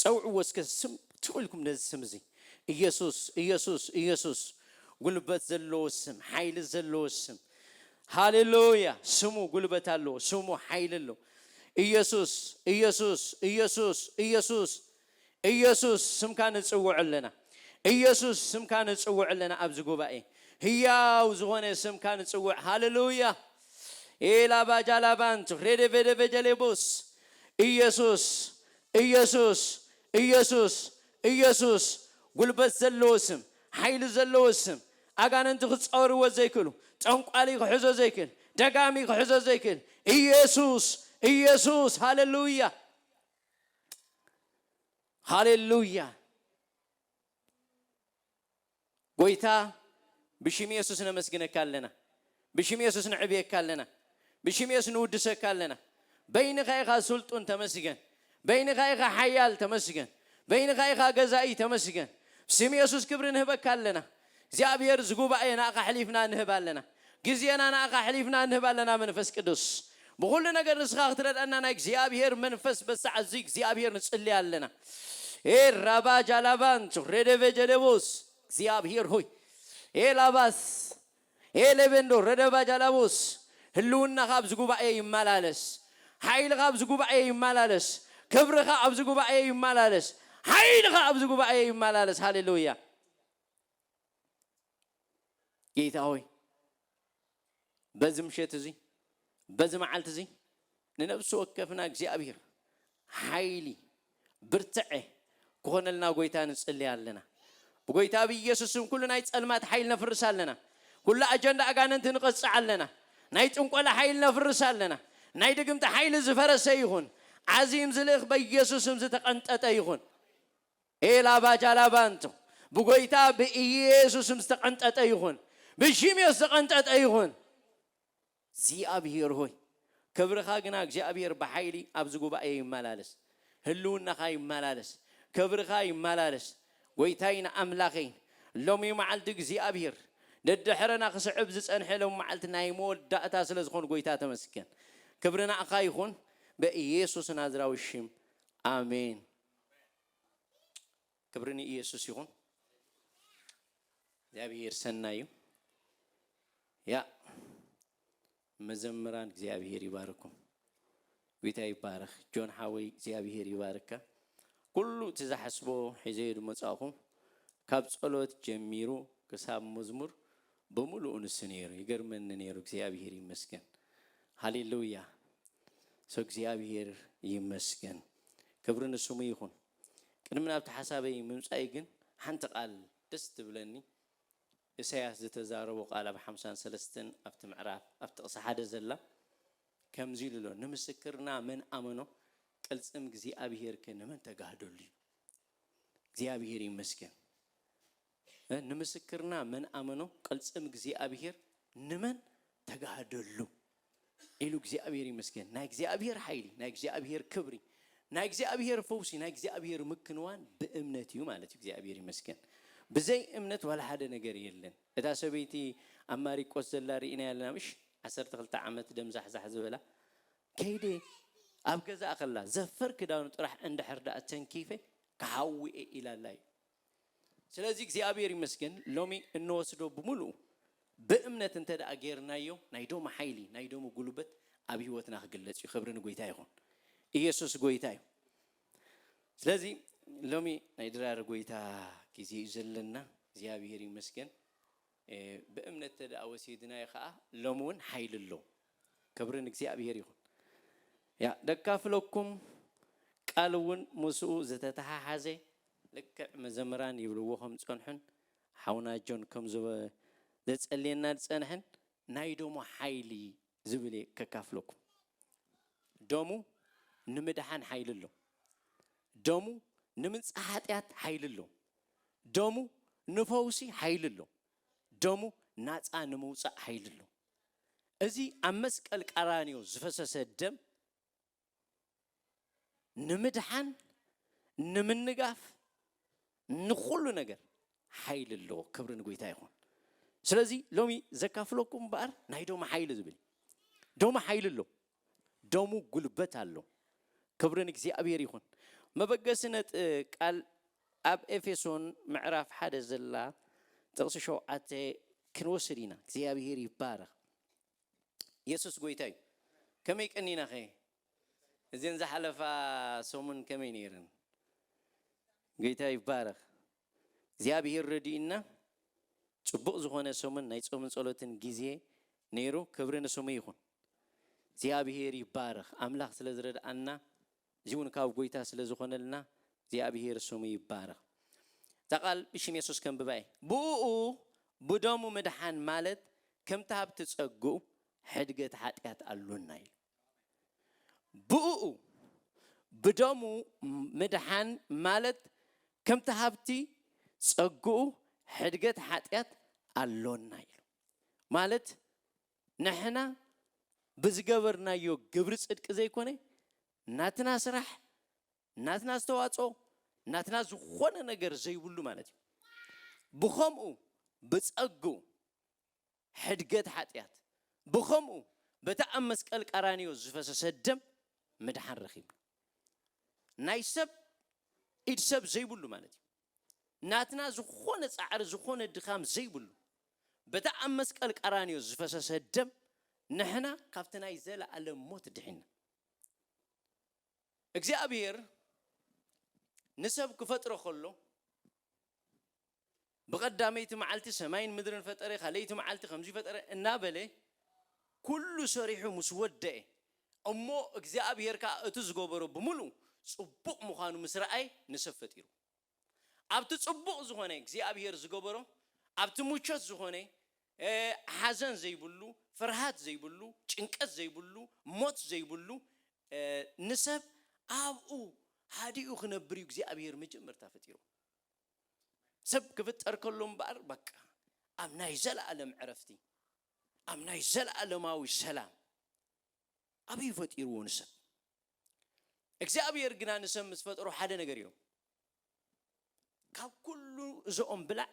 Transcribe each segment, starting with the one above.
ጸውዕዎ እስከ ስም ትው ኢልኩም ነዚ ስም እዚ እየሱስ እየሱስ እየሱስ ጉልበት ዘለዎ ስም ሓይሊ ዘለዎ ስም ሃሌሉያ ስሙ ጉልበት ኣለዎ ስሙ ሓይሊ ኣለዎ እየሱስ እየሱስ እየሱስ እየሱስ እየሱስ ስምካ ንጽውዕ ኣለና እየሱስ ስምካ ንጽውዕ ኣለና ኣብዚ ጉባኤ ህያው ዝኾነ ስምካ ንጽውዕ ሃሌሉያ ኤላባጃላባንት ሬደቬደቬጀሌቦስ ኢየሱስ ኢየሱስ ኢየሱስ ኢየሱስ ጉልበት ዘለዎ ስም ሓይሊ ዘለዎ ስም ኣጋንንቲ ክጻወርዎ ዘይክእሉ ጠንቋሊ ክሕዞ ዘይክእል ደጋሚ ክሕዞ ዘይክእል ኢየሱስ ኢየሱስ ሃለሉያ ሃሌሉያ ጎይታ ብሽም የሱስ ነመስግነካ ኣለና ብሽም የሱስ ንዕብየካ ኣለና ብሽም የሱስ ንውድሰካ ኣለና በይንካ ኢካ ስልጡን ተመስገን በይንካ ኢካ ሓያል ተመስገን በይንካ ኢካ ገዛኢ ተመስገን ስም የሱስ ክብሪ ንህበካ ኣለና እግዚኣብሔር ዝጉባኤ ናእካ ኣሕሊፍና ንህብ ኣለና ግዜና ንኣኻ ኣሕሊፍና ንህብ ኣለና መንፈስ ቅዱስ ብኹሉ ነገር ንስኻ ክትረድኣና ናይ እግዚኣብሄር መንፈስ በዚ ሰዓት እዚ እግዚኣብሄር ንጽሊ ኣለና ኤህ ራባ ጃላቫንቱ ሬደቨ ጀለቮስ እግዚኣብሄር ሆይ ኤህ ላቫስ ኤህ ሌቬንዶ ረደቫ ጃላቮስ ህልውናኻ ኣብዚ ጉባኤ ይመላለስ ሓይልኻ ኣብዚ ጉባኤ ይመላለስ ክብርኻ ኣብዚ ጉባኤ ይመላለስ ሓይልኻ ኣብዚ ጉባኤ ይመላለስ ሃሌሉያ ጌታ ሆይ በዚ ምሸት እዚ በዚ መዓልቲ እዚ ንነብሲ ወከፍና እግዚኣብሔር ሓይሊ ብርትዐ ክኾነልና ጎይታ ንጽልያ ኣለና ብጎይታ ኣብ ኢየሱስ ስም ኩሉ ናይ ጸልማት ሓይል ነፍርስ ኣለና ኩሉ ኣጀንዳ ኣጋንንቲ ንቐጽዕ ኣለና ናይ ጥንቆላ ሓይል ነፍርስ ኣለና ናይ ድግምቲ ሓይሊ ዝፈረሰ ይኹን ዓዚም ዝልእኽ በኢየሱስ ስም ዝተቐንጠጠ ይኹን ኤላባ ጃላባንቶ ብጐይታ ብኢየሱስም ዝተቐንጠጠ ይኹን፣ ብሺምዮስ ዝተቐንጠጠ ይኹን። እግዚኣብሄር ሆይ ክብርኻ ግና እግዚኣብሄር ብሓይሊ ኣብዚ ጉባኤ ይመላለስ፣ ህልውናኻ ይመላለስ፣ ክብርኻ ይመላለስ። ጐይታይን ኣምላኸይን ሎሚ መዓልቲ እግዚኣብሄር ደድሕረና ክስዕብ ዝጸንሐ ሎሚ መዓልቲ ናይ መወዳእታ ስለ ዝኾን ጐይታ ተመስገን። ክብሪ ንኣኻ ይኹን በኢየሱስ ናዝራዊ ሽም ኣሜን። ክብሪ ንኢየሱስ ይኹን። እግዚኣብሔር ሰናይ እዩ። ያ መዘምራን እግዚኣብሔር ይባርኩም። ጌታ ይባረክ። ጆን ሓወይ እግዚኣብሔር ይባርካ። ኩሉ እቲ ዝሓስቦ ሒዘዮ ድመጻእኹ ካብ ጸሎት ጀሚሩ ክሳብ መዝሙር ብምሉኡ ንሱ ነይሩ ይገርመኒ ነይሩ። እግዚኣብሔር ይመስገን። ሃሌሉያ። So እግዚኣብሄር ይመስገን ክብሪ ንስሙ ይኹን። ቅድሚ ናብቲ ሓሳበይ ምምጻእይ ግን ሓንቲ ቃል ደስ ትብለኒ እሰያስ ዝተዛረቦ ቃል ኣብ ሓምሳን ሰለስተን ኣብቲ ምዕራፍ ኣብ ጥቅሲ ሓደ ዘላ ከምዚ ኢሉ ኣሎ ንምስክርና መን ኣመኖ ቅልጽም እግዚኣብሄር ከ ንመን ተጋህደሉ እዩ እግዚኣብሄር ይመስገን። ንምስክርና መን ኣመኖ ቅልጽም እግዚኣብሔር ንመን ተጋህደሉ ኢሉ እግዚኣብሔር ይመስገን ናይ እግዚኣብሔር ሓይሊ ናይ እግዚኣብሔር ክብሪ ናይ እግዚኣብሔር ፈውሲ ናይ እግዚኣብሔር ምክንዋን ብእምነት እዩ ማለት እዩ እግዚኣብሔር ይመስገን ብዘይ እምነት ዋላ ሓደ ነገር የለን እታ ሰበይቲ ኣብ ማሪቆስ ዘላ ርኢና ያለና ምሽ ዓሰርተ ክልተ ዓመት ደምዛሕዛሕ ዝበላ ከይደ ኣብ ገዛ ከላ ዘፈር ክዳኑ ጥራሕ እንድሕር ደኣ ተንኪፈ ክሓዊ እየ ኢላላ እዩ ስለዚ እግዚኣብሔር ይመስገን ሎሚ እንወስዶ ብምልኡ ብእምነት እንተ ገይርናዮ ናይ ዶሙ ሓይሊ ናይ ዶሙ ጉልበት ኣብ ህይወትና ክግለጽ እዩ ክብሪ ንጎይታ ይኹን ኢየሱስ ጎይታ እዩ ስለዚ ሎሚ ናይ ድራር ጎይታ ግዜ እዩ ዘለና እግዚኣብሔር ይመስገን ብእምነት እንተ ደኣ ወሲድናዮ ከዓ ሎሚ እውን ሓይሊ ኣሎ ክብሪ ንእግዚኣብሔር ይኹን ያ ደካፍለኩም ቃል እውን ምስኡ ዝተተሓሓዘ ልክዕ መዘምራን ይብልዎ ከም ዝጸንሑን ሓውና ጆን ከም ዘጸልየና ዝጸንሐን ናይ ደሙ ሓይሊ ዝብል እየ ከካፍለኩም። ደሙ ንምድሓን ሓይሊ ኣሎ። ደሙ ንምንጻህ ሓጢኣት ሓይሊ ኣሎ። ደሙ ንፈውሲ ሓይሊ ኣሎ። ደሙ ናጻ ንምውጻእ ሓይሊ ኣሎ። እዚ ኣብ መስቀል ቀራንዮ ዝፈሰሰ ደም ንምድሓን ንምንጋፍ ንኹሉ ነገር ሓይሊ ኣለዎ ክብሪ ንጎይታ ይኹን ስለዚ ሎሚ ዘካፍለኩም እምበኣር ናይ ዶማ ሓይሊ ዝብል ዶማ ሓይሊ ኣሎ ደሙ ጉልበት ኣሎ ክብሪ ንእግዚኣብሔር ይኹን መበገሲ ነጥ ቃል ኣብ ኤፌሶን ምዕራፍ ሓደ ዘላ ጥቕሲ ሸውዓተ ክንወስድ ኢና እግዚኣብሔር ይባረኽ የሱስ ጎይታ እዩ ከመይ ቀኒና ከ እዘን ዝሓለፋ ሰሙን ከመይ ነይረን ጎይታ ይባረኽ እግዚኣብሄር ረዲኡና ጽቡቕ ዝኾነ ሰሙን ናይ ጾምን ጸሎትን ግዜ ነይሩ ክብሪ ንስሙ ይኹን እግዚኣብሄር ይባረኽ ኣምላኽ ስለ ዝረድኣና እዚውን ካብ ጎይታ ስለ ዝኾነልና እግዚኣብሄር ስሙ ይባረኽ እዛ ቃል ብሽም የሱስ ከንብባ እየ ብእኡ ብደሙ ምድሓን ማለት ከምቲ ሃብቲ ጸግኡ ሕድገት ሓጢኣት ኣሎና ኢሉ ብእኡ ብደሙ ምድሓን ማለት ከምቲ ሃብቲ ጸግኡ ሕድገት ሓጢኣት ኣሎና ኢሉ ማለት ንሕና ብዝገበርናዮ ግብሪ ጽድቂ ዘይኮነ ናትና ስራሕ ናትና ዝተዋጽኦ ናትና ዝኾነ ነገር ዘይብሉ ማለት እዩ ብኸምኡ ብጸግኡ ሕድገት ሓጢኣት ብኸምኡ በቲ ኣብ መስቀል ቀራንዮ ዝፈሰሰ ደም ምድሓን ረኺብና ናይ ሰብ ኢድ ሰብ ዘይብሉ ማለት እዩ ናትና ዝኾነ ጻዕሪ ዝኾነ ድኻም ዘይብሉ በታ ኣብ መስቀል ቀራንዮ ዝፈሰሰ ደም ንሕና ካብቲ ናይ ዘለኣለም ሞት ድሒና እግዚኣብሔር ንሰብ ክፈጥሮ ከሎ ብቐዳመይቲ መዓልቲ ሰማይን ምድርን ፈጠረ ካልኣይቲ መዓልቲ ከምዚ ፈጠረ እናበለ ኩሉ ሰሪሑ ምስ ወደኤ እሞ እግዚኣብሔር ከዓ እቲ ዝገበሮ ብምሉ ጽቡቕ ምዃኑ ምስ ረኣየ ንሰብ ፈጢሩ ኣብቲ ጽቡቕ ዝኾነ እግዚኣብሄር ዝገበሮ ኣብቲ ምቾት ዝኾነ ሓዘን ዘይብሉ ፍርሃት ዘይብሉ ጭንቀት ዘይብሉ ሞት ዘይብሉ ንሰብ ኣብኡ ሃዲኡ ክነብር እዩ እግዚኣብሄር መጀመርታ ፈጢሩ ሰብ ክፍጠር ከሎ እምበኣር በቃ ኣብ ናይ ዘለኣለም ዕረፍቲ ኣብ ናይ ዘለኣለማዊ ሰላም ኣበይ ፈጢርዎ ንሰብ እግዚኣብሔር ግና ንሰብ ምስ ፈጠሮ ሓደ ነገር ኢሎም ካብ ኩሉ እዚ ኦም ብላዕ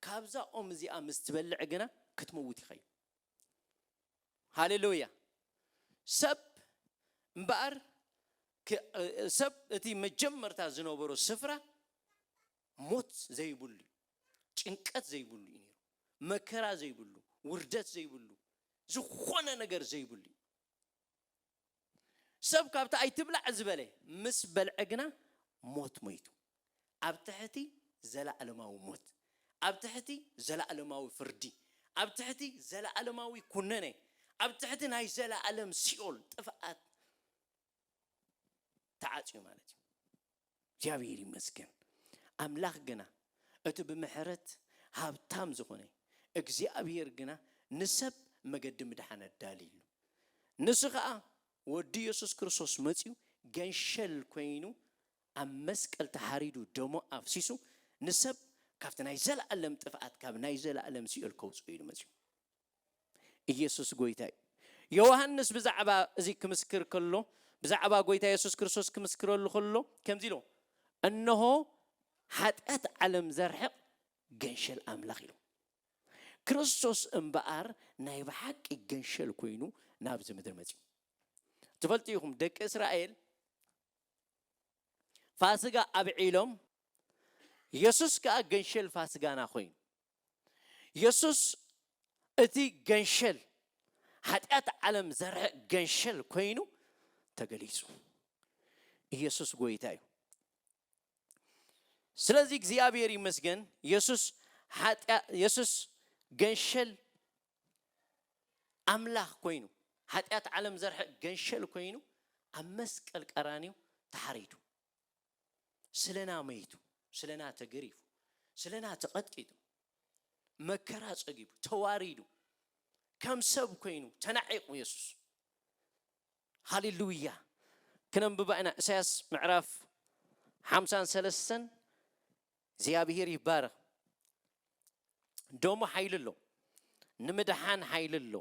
ካብዛ ኦም እዚኣ ምስ ትበልዕ ግና ክትመውት ኢኻ ኢሉ። ሃሌሉያ ሰብ እምበኣር ሰብ እቲ መጀመርታ ዝነበሮ ስፍራ ሞት ዘይብሉ እዩ ጭንቀት ዘይብሉ እዩ ነይሩ መከራ ዘይብሉ ውርደት ዘይብሉ ዝኾነ ነገር ዘይብሉ እዩ ሰብ ካብቲ ኣይትብላዕ ዝበለ ምስ በልዐ ግና ሞት ሞይቱ፣ ኣብ ትሕቲ ዘለኣለማዊ ሞት፣ ኣብ ትሕቲ ዘለኣለማዊ ፍርዲ፣ ኣብ ትሕቲ ዘለኣለማዊ ኩነኔ፣ ኣብ ትሕቲ ናይ ዘለኣለም ሲኦል፣ ጥፍኣት፣ ተዓጽዩ ማለት እዩ። እግዚኣብሔር ይመስገን ኣምላኽ ግና እቲ ብምሕረት ሃብታም ዝኾነ እግዚኣብሔር ግና ንሰብ መገዲ ምድሓን ኣዳልይሉ ንሱ ኸኣ ወዱ ኢየሱስ ክርስቶስ መጺኡ ገንሸል ኮይኑ ኣብ መስቀል ተሓሪዱ ደሞ ኣፍሲሱ ንሰብ ካብቲ ናይ ዘለኣለም ጥፍኣት ካብ ናይ ዘለኣለም ሲኦል ከውጽኡ ኢሉ መጺኡ ኢየሱስ ጎይታ እዩ። ዮውሃንስ ብዛዕባ እዚ ክምስክር ከሎ ብዛዕባ ጎይታ የሱስ ክርስቶስ ክምስክረሉ ከሎ ከምዚ ኢሉ እነሆ ሓጢኣት ዓለም ዘርሕቕ ገንሸል ኣምላኽ ኢሉ። ክርስቶስ እምበኣር ናይ ብሓቂ ገንሸል ኮይኑ ናብዚ ምድሪ መጺኡ። ትፈልጡ ኢኹም ደቂ እስራኤል ፋስጋ ኣብዒሎም የሱስ ከኣ ገንሸል ፋስጋና ኮይኑ የሱስ እቲ ገንሸል ሓጢኣት ዓለም ዘርሐ ገንሸል ኮይኑ ተገሊጹ ኢየሱስ ጎይታ እዩ ስለዚ እግዚኣብሔር ይመስገን የሱስ ሓጢያ የሱስ ገንሸል ኣምላኽ ኮይኑ ሓጢኣት ዓለም ዘርሐ ገንሸል ኮይኑ ኣብ መስቀል ቀራንዩ ተሓሪዱ ስለና መይቱ፣ ስለና ተገሪፉ፣ ስለና ተቐጥቂጡ፣ መከራ ጸጊቡ፣ ተዋሪዱ፣ ከም ሰብ ኮይኑ ተናዒቑ የሱስ። ሃሌሉያ! ክነንብባ ኢና ኢሳያስ ምዕራፍ ሓምሳን ሰለስተን እግዚኣብሄር ይባረኽ ደሙ ሓይሊ ኣሎ ንምድሓን ሓይሊ ኣሎ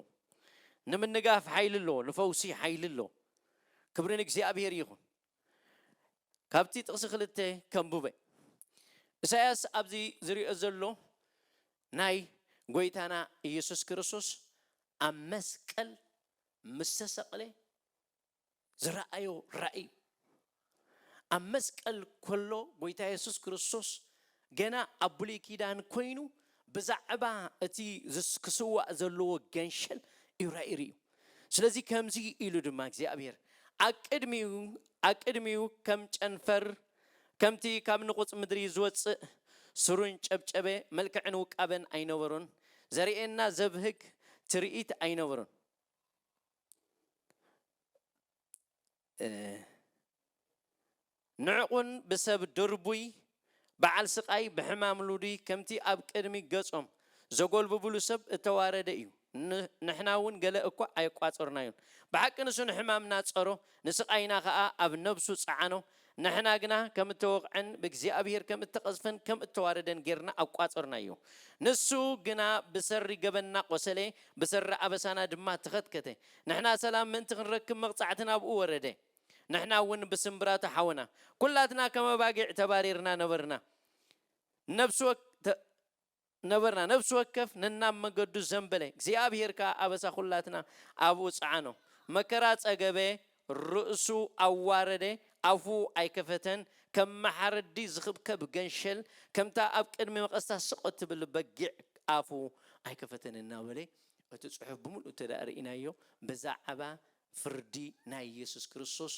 ንምንጋፍ ሓይሊ ኣሎ ንፈውሲ ሓይሊ ኣሎ ክብሪ ንእግዚኣብሄር ይኹን ካብቲ ጥቕሲ ክልተ ከምቡበ ኢሳያስ ኣብዚ ዝሪኦ ዘሎ ናይ ጎይታና ኢየሱስ ክርስቶስ ኣብ መስቀል ምስተሰቕለ ዝረኣዮ ራኢ እዩ። ኣብ መስቀል ከሎ ጎይታ የሱስ ክርስቶስ ገና ኣብ ብሉይ ኪዳን ኮይኑ ብዛዕባ እቲ ክስዋእ ዘለዎ ገንሸል እዩ ራኢ ርእዩ። ስለዚ ከምዚ ኢሉ ድማ እግዚኣብሔር ኣቅድሚኡ ኣቅድሚኡ ከም ጨንፈር ከምቲ ካብ ንቑጽ ምድሪ ዝወጽእ ስሩን ጨብጨበ መልክዕን ውቃበን ኣይነበሮን ዘርእየና ዘብህግ ትርኢት ኣይነበሮን ንዕቕን ብሰብ ድርቡይ በዓል ስቓይ ብሕማም ልዱይ ከምቲ ኣብ ቅድሚ ገጾም ዘጎልብብሉ ሰብ እተዋረደ እዩ ንሕና እውን ገለ እኳ ኣየቋጸርናዮን ብሓቂ ንሱ ንሕማምና ጸሮ ንስቓይና ከኣ ኣብ ነብሱ ጸዓኖ ንሕና ግና ከም እተወቕዐን ብእግዚኣብሄር ከም እተቐዝፈን ከም እተዋረደን ጌርና ኣቋጸርናዮ። ንሱ ግና ብሰሪ ገበንና ቈሰለ፣ ብሰሪ ኣበሳና ድማ ተኸትከተ። ንሕና ሰላም ምእንቲ ክንረክብ መቕጻዕቲ ናብኡ ወረደ። ንሕና እውን ብስምብራቱ ሓወና። ኵላትና ከም ኣባጊዕ ተባሪርና ነበርና፣ ነፍሲ ነበርና ነፍሲ ወከፍ ነናብ መገዱ ዘንበለ እግዚኣብሄር ከኣ ኣበሳ ኵላትና ኣብኡ ጸዓኖ መከራ ጸገበ ርእሱ ኣዋረደ ኣፉ ኣይከፈተን ከም መሓረዲ ዝኽብከብ ገንሸል ከምታ ኣብ ቅድሚ መቐስታ ስቕ እትብል በጊዕ ኣፉ ኣይከፈተን እናበለ እቲ ጽሑፍ ብምልኡ እንተደኣ ርኢናዮ ብዛዕባ ፍርዲ ናይ የሱስ ክርስቶስ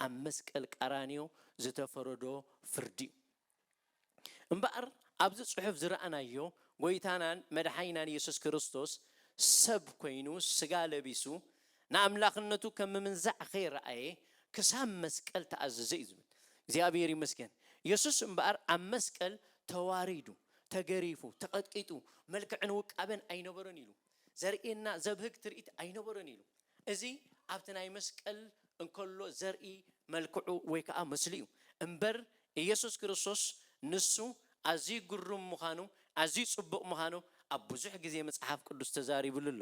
ኣብ መስቀል ቀራንዮ ዝተፈረዶ ፍርዲ እዩ። እምበኣር ኣብዚ ጽሑፍ ዝረኣናዮ ጎይታናን መድሓኒናን የሱስ ክርስቶስ ሰብ ኮይኑ ስጋ ለቢሱ ንኣምላኽነቱ ከም ምምንዛዕ ከይረኣየ ክሳብ መስቀል ተኣዘዘ እዩ ዝብል እግዚኣብሔር ይመስገን የሱስ እምበኣር ኣብ መስቀል ተዋሪዱ ተገሪፉ ተቐጥቂጡ መልክዕን ውቃበን ኣይነበሮን ኢሉ ዘርእየና ዘብህግ ትርኢት ኣይነበሮን ኢሉ። እዚ ኣብቲ ናይ መስቀል እንከሎ ዘርኢ መልክዑ ወይ ከኣ ምስሉ እዩ። እምበር ኢየሱስ ክርስቶስ ንሱ ኣዝዩ ግሩም ምዃኑ ኣዝዩ ጽቡቕ ምዃኑ ኣብ ብዙሕ ግዜ መጽሓፍ ቅዱስ ተዛሪብሉ ኣሎ።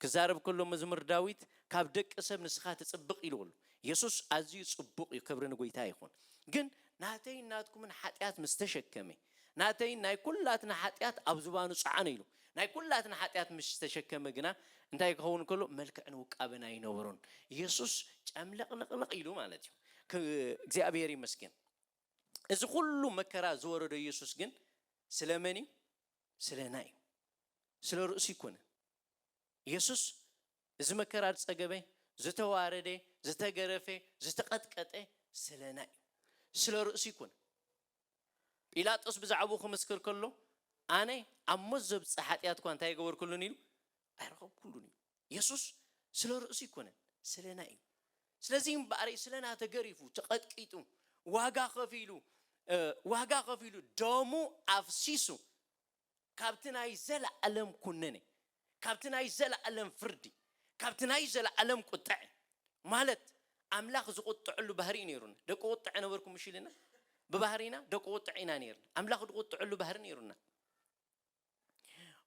ክዛረብ ከሎ መዝሙር ዳዊት ካብ ደቂ ሰብ ንስኻ ትጽብቕ ኢልዎ ኣሎ። የሱስ ኣዝዩ ጽቡቕ እዩ ክብሪ ንጎይታ ይኹን። ግን ናተይን ናትኩምን ሓጢኣት ምስ ተሸከመ ናተይን ናይ ኵላትና ሓጢኣት ኣብ ዝባኑ ጸዓኑ ኢሉ። ናይ ኵላትና ሓጢኣት ምስ ተሸከመ ግና እንታይ ክኸውን ከሎ መልክዕን ውቃበን ኣይነበሮን። የሱስ ጨምለቕለቕለቕ ኢሉ ማለት እዩ። እግዚኣብሄር ይመስገን። እዚ ዅሉ መከራ ዝወረዶ የሱስ ግን ስለ መን እዩ? ስለና እዩ። ስለ ርእሱ ኣይኰነን። የሱስ እዚ መከራ ዝጸገበ፣ ዝተዋረደ፣ ዝተገረፈ፣ ዝተቐጥቀጠ ስለና እዩ። ስለ ርእሱ ኣይኰነን። ጲላጦስ ብዛዕባኡ ክምስክር ከሎ፣ ኣነ ኣብ ሞት ዘብጽሕ ሓጢኣት እኳ እንተ ኣይገበርኩሉን ኢሉ ኣይረኸብኩሉን እዩ። የሱስ ስለ ርእሱ ኣይኰነን፣ ስለና እዩ። ስለዚ እምበኣር ስለና ተገሪፉ፣ ተቐጥቂጡ፣ ዋጋ ከፊሉ፣ ዋጋ ከፊሉ፣ ደሙ ኣፍሲሱ፣ ካብቲ ናይ ዘለኣለም ኩነኔ፣ ካብቲ ናይ ዘለኣለም ፍርዲ፣ ካብቲ ናይ ዘለኣለም ቁጠዔ፣ ማለት ኣምላኽ ዝቁጠዐሉ ባህሪ እዩ ነይሩና። ደቂ ቁጠዐ ነበርኩም እሺ ኢልና፣ ብባህሪና ደቂ ቁጠዐ ኢና ነይርና። ኣምላኽ ድቁጠዐሉ ባህሪ ነይሩና።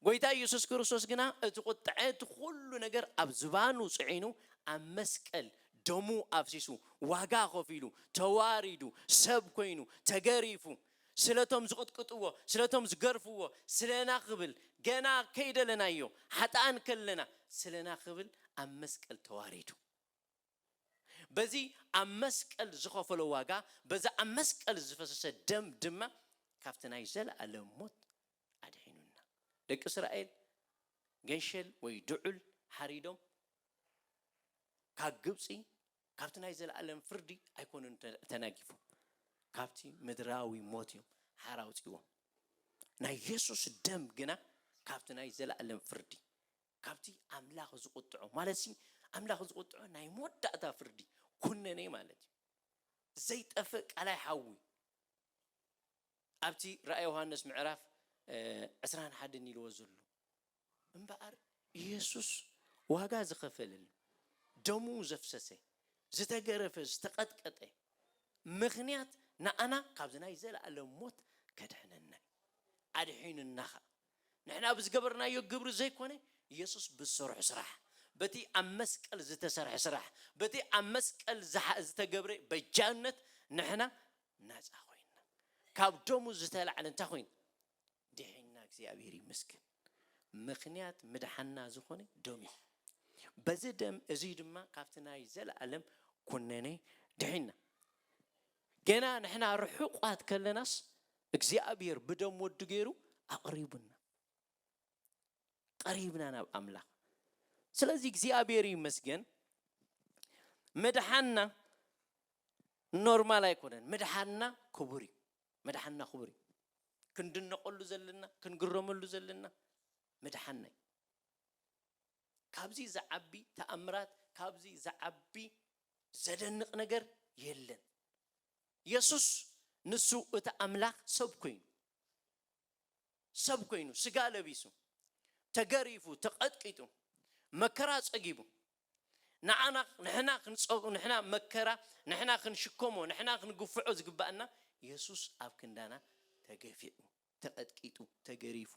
ጎይታ ኢየሱስ ክርስቶስ ግና እቲ ቁጠዐ እቲ ኩሉ ነገር ኣብ ዝባኑ ጽዒኑ ኣብ መስቀል ደሙ ኣፍሲሱ ዋጋ ከፊሉ ተዋሪዱ ሰብ ኮይኑ ተገሪፉ ስለቶም ዝቕጥቅጥዎ ስለቶም ዝገርፍዎ ስለና ክብል ገና ከይደለናዮ ሓጥኣን ከለና ስለና ክብል ኣብ መስቀል ተዋሪዱ በዚ ኣብ መስቀል ዝኸፈሎ ዋጋ በዚ ኣብ መስቀል ዝፈሰሰ ደም ድማ ካብቲ ናይ ዘለኣለም ሞት ኣድሒኑና ደቂ እስራኤል ገንሸል ወይ ድዑል ሓሪዶም ካብ ግብጺ ካብቲ ናይ ዘለኣለም ፍርዲ ኣይኰኑን ተናጊፎም፣ ካብቲ ምድራዊ ሞት እዮም ሓራ ኣውጺእዎም። ናይ የሱስ ደም ግና ካብቲ ናይ ዘለኣለም ፍርዲ፣ ካብቲ ኣምላኽ ዝቝጥዖ፣ ማለትሲ ኣምላኽ ዝቝጥዖ ናይ መወዳእታ ፍርዲ፣ ኰነነ ማለት እዩ። ዘይጠፍእ ቀላይ ሓዊ ኣብቲ ራእየ ዮሃንስ ምዕራፍ ዕስራን ሓደን ኢልዎ ዘሎ እምበኣር ኢየሱስ ዋጋ ዝኸፈለሉ፣ ደሙ ዘፍሰሰ፣ ዝተገረፈ፣ ዝተቐጥቀጠ ምኽንያት ንኣና ካብዚ ናይ ዘለኣለም ሞት ከድሕነና እዩ። ኣድሒኑና ኸኣ። ንሕና ብዝገበርናዮ ግብሪ ዘይኮነ ኢየሱስ ብዝሰርሖ ስራሕ፣ በቲ ኣብ መስቀል ዝተሰርሐ ስራሕ፣ በቲ ኣብ መስቀል ዝተገብረ በጃነት ንሕና ናጻ ኮይንና። ካብ ደሙ ዝተላዕለ እንታይ ኮይኑ? ዲሒንና እግዚኣብሔር ይመስገን ምክንያት ምድሓንና ዝኮነ ደም እዩ በዚ ደም እዙይ ድማ ካብቲ ናይ ዘለኣለም ኩነኔ ድሒንና ገና ንሕና ርሑቋት ከለናስ እግዚኣብሔር ብደም ወዱ ገይሩ ኣቅሪቡና ቀሪብና ናብ ኣምላክ ስለዚ እግዚኣብሔር ይመስገን ምድሓንና ኖርማል ኣይኮነን ምድሓንና ክቡር እዩ መድሓንና ክቡር እዩ ክንድነቀሉ ዘለና ክንግረመሉ ዘለና ምድሓንና እዩ ካብዚ ዝዓቢ ተኣምራት ካብዚ ዝዓቢ ዘደንቅ ነገር የለን የሱስ ንሱ እቲ ኣምላክ ሰብ ኮይኑ ሰብ ኮይኑ ስጋ ለቢሱ ተገሪፉ ተቀጥቂጡ መከራ ጸጊቡ ንዓና ንሕና ክንጸግኦ ንሕና መከራ ንሕና ክንሽከሞ ንሕና ክንግፍዖ ዝግባኣና የሱስ ኣብ ክንዳና ተገፊዑ ተቀጥቂጡ ተገሪፉ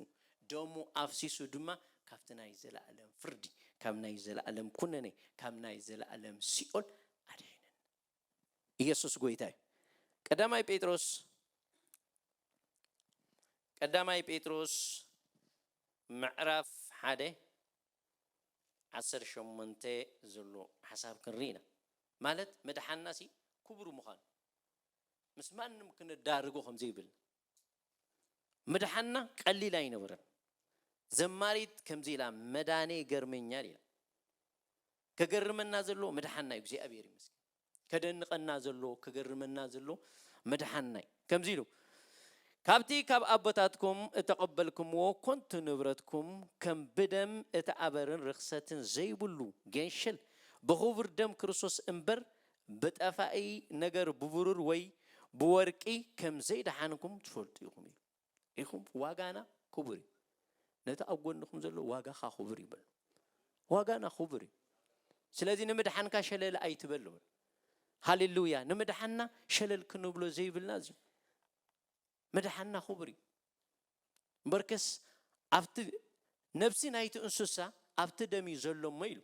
ደሙ ኣፍሲሱ ድማ ካብቲ ናይ ዘለኣለም ፍርዲ ካብ ናይ ዘለኣለም ኩነኔ ካብ ናይ ዘለኣለም ሲኦል ኣድሒነና ኢየሱስ ጎይታ እዩ ቀዳማይ ጴጥሮስ ቀዳማይ ጴጥሮስ ምዕራፍ ሓደ ዓሰርተ ሸሞንተ ዘሎ ሓሳብ ክንርኢ ኢና ማለት ምድሓንናሲ ክቡር ምዃኑ ምስ ማንም ክነዳርጎ ከምዘይብልና ምድሓንና ቀሊል ኣይነበረን ዘማሪት ከምዚ ኢላ መዳኔ ይገርመኛል ኢላ ከገርመና ዘለዎ ምድሓንና እዩ እግዚኣብሔር ይመስገን ከደንቐና ዘሎ ክገርመና ዘሎ መድሓናይ ከምዚ ኢሉ ካብቲ ካብ ኣቦታትኩም እተቐበልክምዎ ኮንቱ ንብረትኩም ከም ብደም እቲ ኣበርን ርኽሰትን ዘይብሉ ጌንሽል ብኽቡር ደም ክርስቶስ እምበር ብጠፋኢ ነገር ብብሩር ወይ ብወርቂ ከም ዘይደሓንኩም ትፈልጡ ኢኹም ኢሉ። ኢኹም ዋጋና ክቡር እዩ ነቲ ኣብ ጎንኹም ዘሎ ዋጋኻ ክቡር እዩ በሎ ዋጋና ክቡር እዩ ስለዚ ንምድሓንካ ሸለል ኣይትበል በሎ ሃሌሉያ ንምድሓንና ሸለል ክንብሎ ዘይብልና እዚ ምድሓንና ክቡር እዩ እምበርከስ ኣብቲ ነብሲ ናይቲ እንስሳ ኣብቲ ደም እዩ ዘሎ እሞ ኢሉ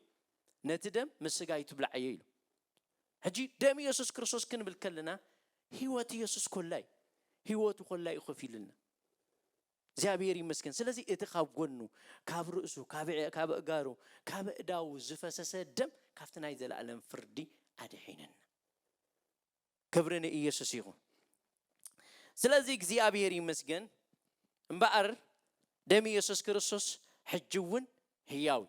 ነቲ ደም ምስ ስጋ ኣይትብላዓዮ ኢሉ ሕጂ ደም የሱስ ክርስቶስ ክንብል ከለና ሂወት የሱስ ኮላ እዩ ሂወቱ ኮላ እዩ ከፊሉልና እግዚኣብሔር ይመስገን ስለዚ እቲ ካብ ጎኑ ካብ ርእሱ ካብ እጋሩ ካብ እዳዉ ዝፈሰሰ ደም ካብቲ ናይ ዘለኣለም ፍርዲ ኣድሒነና ክብሪ ንኢየሱስ ይኹን ስለዚ እግዚኣብሔር ይመስገን እምበኣር ደም ኢየሱስ ክርስቶስ ሕጂ እውን ህያው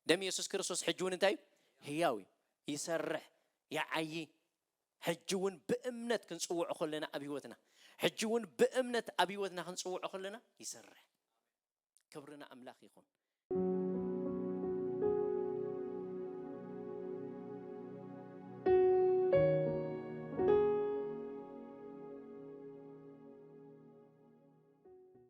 ደም የሱስ ክርስቶስ ሕጂ እውን እንታይ እዩ? ህያው እዩ። ይሰርሕ፣ ይዓዪ። ሕጂ እውን ብእምነት ክንጽውዖ ከለና ኣብ ህይወትና፣ ሕጂ እውን ብእምነት ኣብ ህይወትና ክንጽውዖ ከለና ይሰርሕ። ክብሪ ንኣምላኽ ይኹን።